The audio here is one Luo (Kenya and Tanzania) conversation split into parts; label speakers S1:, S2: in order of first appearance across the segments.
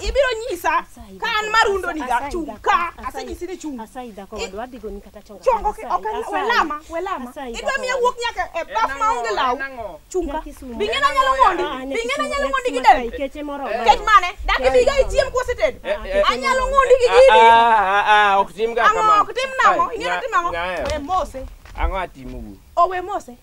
S1: ibiro nyisa ka an marundo ni ga chung ka asenyisi ni chung asayi dhako wadwa adhi goni
S2: kata chonga chongo ki ok en-
S1: welama welama idwa miya wuok nyaka e baf ma onge law chung ka bing'e na nyalo mondi bing'e na nyalo mondi gi del keche moro kech
S2: mane dak
S1: ibiga ichiem koseted anyalo mondi gi gini ok
S3: timga ang'o ok tim nang'o ing'e ni
S1: tim ang'o we mose ang'o atimogu
S3: owe mose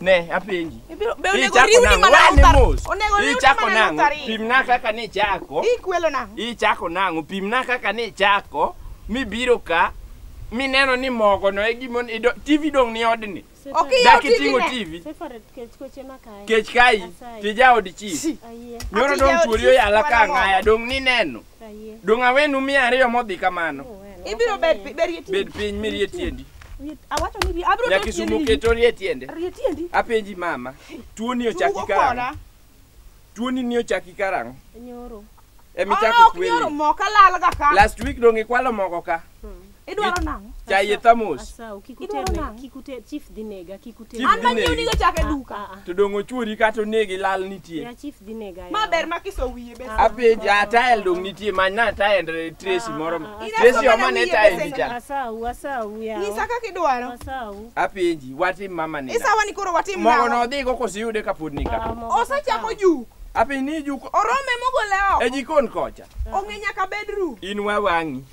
S3: Ne, apenji. Ibiro- be onego Ichako riwni
S1: nang'o? mana Wane utar- mos. onego riwni
S3: Ichako mana nang'o? utario. Pimna kaka ni ichako. Ikwelo nang'o?
S1: Ichako nang'o? Pimna
S3: kaka ni ichako mibiro ka mineno ni mogo no e gimo ido- TV dong' ni odni. Ok iyaw Dak TV iting'o
S1: ne. TV. Separate
S3: kech koche makae. Kech kai Asayi. tija od chief. Ayie. Nyoro Ati dong' jaod chuori chief oyala ka wala mogo. ng'aya dong' nineno. Dong' awenu mia ariyo modhi kamano. Ibiro bed pi-
S1: bed gi Bed piny
S3: mirie tiendi. Awacho ni bi-
S1: abiro Nyaka bet isumo tiendeni. keto rie
S3: tiende. Rie tiendi. Apenji
S1: mama,
S3: tuoni ochaki Tugo karang'o? koda. Tuoni ni ochaki karang'o? Nyoro.
S2: Emichako Ah, ok
S3: nyoro kweli. mo kalalga
S1: ka. Last week dong' ikwalo
S3: mogo ka. Idwaro nang'o?
S1: Chaye thamos.
S3: Asau, kik Idwaro uter ne-
S2: nang'o? kik uter- chief dhi nega, kik uter Chief nega. An ma dhi nyiew negi. nigo chak e
S1: Ah, duka. ah, ah. To dongo chuori
S3: kata onegi lal Ya, nitie. chief dhi nega, ya.
S2: Ma ber ma kiso wiye
S1: be. Apenja tael dong
S3: nitie manyna tael Tracy moro. ah, ah. Tracy Ina omane wiye tael pesa cha. Asau, asau, yawa.
S2: Nyisa kaka idwaro.
S1: Asau. Apenji
S2: watim
S3: mama ni. Isawa ni koro watim Mogo
S1: nang'o? no dhi go kosiyude
S3: kapod ni Ah, ka. mogo Osechako asau. juk.
S1: Apenji ni juko
S3: Orome mogole e
S1: oko. jikon kocha.
S3: Ong'e nyaka bedroom.
S1: In wawang'i.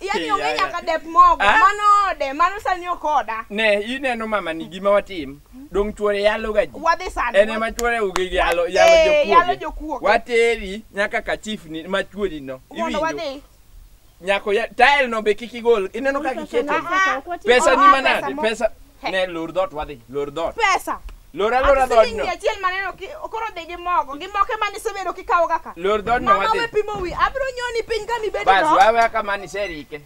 S3: Yaani Yaya.
S1: onge nyaka dep mogo. Ah? Mano ode, mano sani ok oda. ne ineno mama
S3: ni gima watim dong chuore yalo ga ji Wadhi sani. en ema
S1: chuore ugi gi
S3: yalo Eh, yalo yalo jokuoge jokuoge. wateri nyaka ka chief ni ma chuori no Mondo iwinjo wadhi.
S1: nyako
S3: ya tile no be kik igol ineno ka kiketo Ah, ah. pesa ni Oa, manade mo- pesa Ne lor dot wadhi, lor dot. Pesa. Lor
S1: alora dot
S3: no. Achiel maneno ki
S1: okoro de gi mogo, gi moke mani sebedo ki kawo kaka. Lor dot no wadhi. Mama we
S3: pimo wi, abro
S1: nyoni piny kami bedo no. Bas wawe kama ni
S3: serike.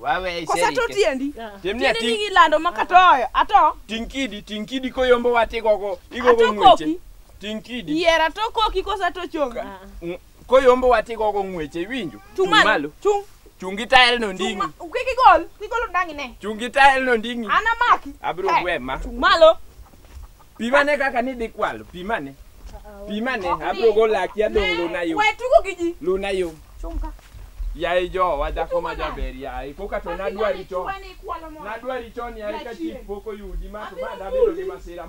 S3: Wawe serike. Kosa to tiendi.
S1: Tiemni ati. Tienini ilando makatoyo, ato. Tinkidi, tinkidi
S3: koyombo wati gogo, igogo ngweche. Ato koki. Tinkidi. Yera to koki
S1: kosa to chonga. Koyombo
S3: wati gogo ng'weche iwinjo? Chung' malo. Chung'.
S1: Chung' gi tael
S3: no nding'i. Kik igol, kik igol
S1: ndang'i ne. Chung' gi tael no nding'i.
S3: An amaki. Abiro eh, gwe ma.
S1: Chung' malo.
S3: Pimane kaka
S1: nidhi
S3: kwalo, pimane. Pimane, abiro go laki adong' luna yo. We tugo gi ji. Luna
S1: yo. Chung'
S3: ka.
S1: Yaye
S3: jowa dhako ma jaber yaye, koka to nadwari chon. Nadwari chon yaye ka chief pok oyudi ma to ma dabedo gi masira.